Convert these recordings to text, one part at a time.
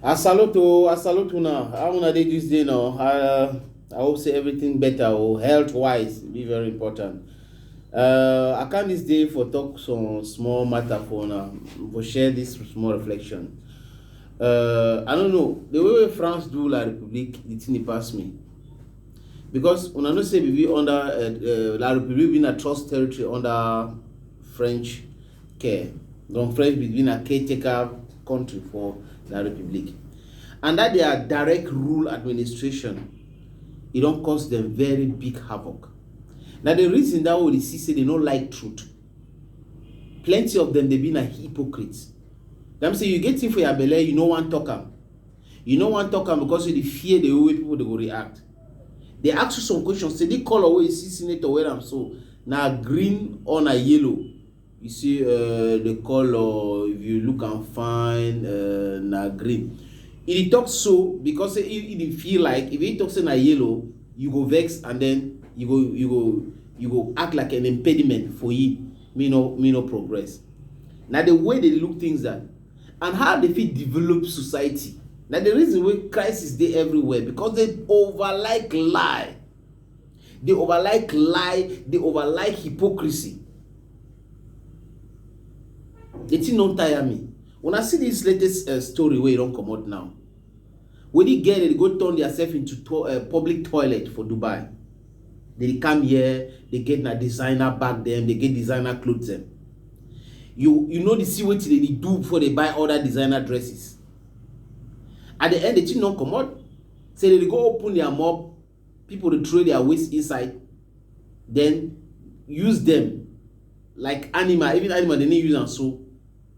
I salute o, I salute una. How una dey this day now? Uh, I hope say everything better o. Health wise be very important. Uh, I come this day for talk some small matter for una, for share this small reflection. Uh, I don't know the way wey France do La République, the thing dey pass me because una know say we be under uh, uh, La République be na trust territory under French ke Don Fresh bin be na caretaker country for dat republic and dat dia direct rule administration e don cause dem very big havoc. Na di reason dat we dey see say dem no like truth. Plenty of dem dey be na hypocrites. Dem say you get thing for your belle you no wan talk am. You no wan talk am because you dey fear di way wey pipo dey go react. Dey ask you some questions say di colour wey you see senator wear am so na green or na yellow? You say um di colour if you look am fine um na green. E dey talk so because say e dey feel like if e talk say na yellow you go vex and then you go you go you go act like an impediment for him make e no make e no progress. Na di way dey look things dat and how dey fit develop society na the reason wey crisis dey everywhere because they over like lie they over like lie they over like hypocrisy the thing don tire me when i see this latest uh, story wey don comot now wey the girl dey go turn theirself into to, uh, public toilet for dubai Dem dey come here, dey get na designer bag dem, dey get designer clothes dem. You you no dey see wetin dem dey do before dem buy all that designer dresses. At the end, the thing don comot. Say dem dey go open their mob, people dey throw their waste inside, then use them like animal, even animal dem no use am sew.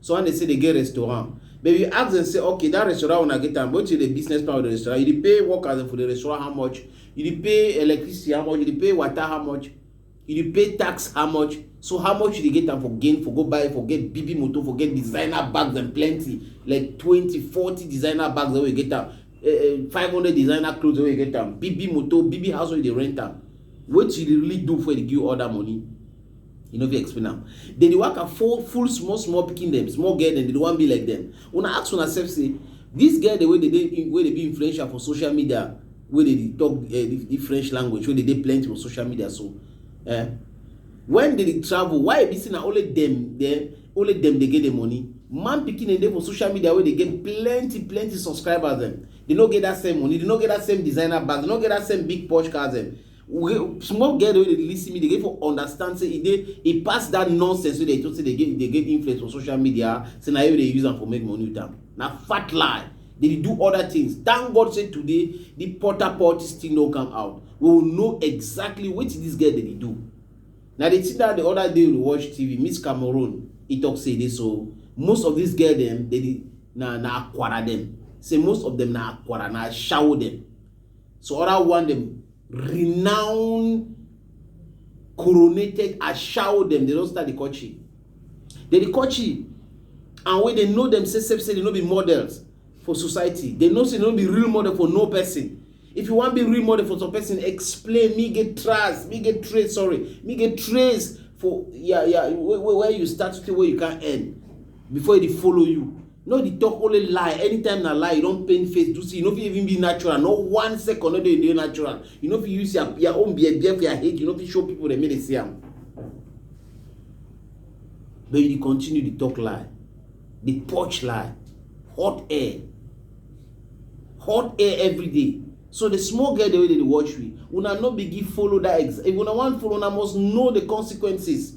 So when they say they get restaurant, but if you ask them say, okay, that restaurant when I get time, what is the business plan of the restaurant? You pay workers for the restaurant how much? You pay electricity how much? You pay water how much? You pay tax how much? So how much you get time for gain, for go buy, for get BB motor, for get designer bags and plenty, like 20, 40 designer bags that we get time, uh, eh, eh, 500 designer clothes that we get time, BB motor, BB house where they rent time. What you really do for the give all that money? You no fit explain am. Dem dey waka full full small small pikin dem, small girl dem, dem dey wan be like dem. Una ask una sef say dis girl dem wey dey dey wey dey be influential for social media wey dey dey talk um di French language wey dey dey plenty for social media so um when dem dey travel why e be say na only dem dem only dem dey get the money? Man pikin dem dey for social media wey dey get plenty plenty subscribers dem, dem no get dat same money, dem no get dat same designer bag, dem no get dat same big posh cars dem. small girl wey dey lis ten me dey get for understand say e dey e pass that nonsense wey dey talk say dey get dey get influence for social media say na you dey use am for make money with am na fat lie they dey do other things thank god say today the porta potty still no come out we will know exactly wetin this girl dey dey do na the thing that the other day we watch tv miss cameroon he talk say e dey so most of these girl dem dey na na akwara dem say most of them na akwara na ashawo dem So other one them renowned coronated shower them. They don't start the country. They the country and when they know themselves say they no be models for society. They know say they no be real model for no person. If you want be real model for some person, explain me get trace, me get trace, sorry, me get trace for yeah yeah where, where you start to where you can end before they follow you. No dey talk only lie, anytime na lie, you don paint face do see, you no fit even be natural, no one second no dey dey natural, you no fit use your your own bear bear for your head, you no fit show people dem make dem see am. But you dey continue dey talk lie, dey purge lie, hot air, hot air every day. So the small girl dem wey dey dey watch me, una no begin follow that ex, if una wan follow una must know the consequences.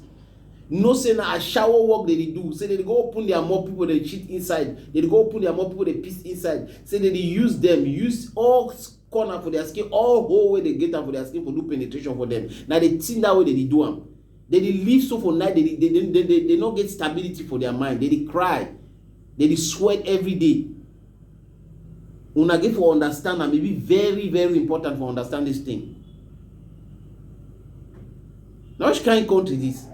You know say na ashawo work dem dey do, say dem dey go open their mouth people dey shit inside, dem dey go open their mouth people dey piss inside, say dem dey use dem, use all corner for their skin, all hole wey dem get am for their skin for do penetration for dem. Na the thing that way dem dey do am. They dey live so for night, they dey, they, they, they, they no get stability for their mind. They dey cry, they dey sweat every day. Una dey for understand am, e be very very important for understand dis thing. Na which kind country dis?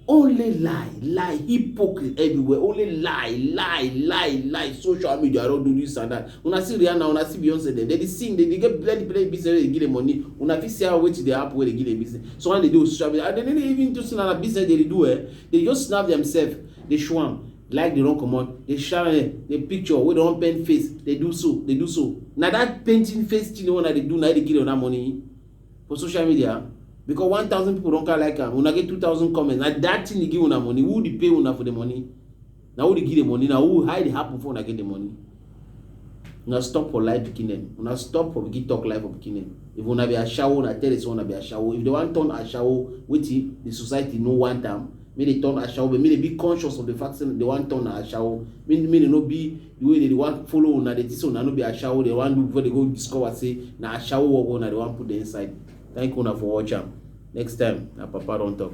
Only lie lie hypocrite everywhere only lie lie lie lie social media don do dis and dat. Una see Rihanna una see Beyonce dem dey sing dem dey get plenty plenty business wey dey give dem money una fit see how wetin dey happen wey dey give dem business. Some of dem dey do social media and dem no dey even do say na business dem dey do um dey just snap themselves dey show am Light dey run comot, dey shine eh, the picture wey dem wan paint face dey do so, dey do so. Na that painting face thing wey una dey do na im dey give dem that money for social media because one thousand people don carry like am, una get two thousand comments, na that thing dey give una money. Who dey pay una for the money? Na who dey give the money? Na who, how e dey happen before una get the money? Una stop for life pikin dem. Una stop for begin talk life for pikin dem. If una be ashawo, una tell this one una be ashawo. If they wan turn ashawo, wetin the society no want am, make they turn ashawo, but make they be conscious of the fact say they wan turn ashawo. Make, make they no be the way they dey wan follow una, they think say una no be ashawo, they wan do before they go discover say na ashawo work wey una dey wan put them inside. Thank una for watch am. Next time, na Papa don talk.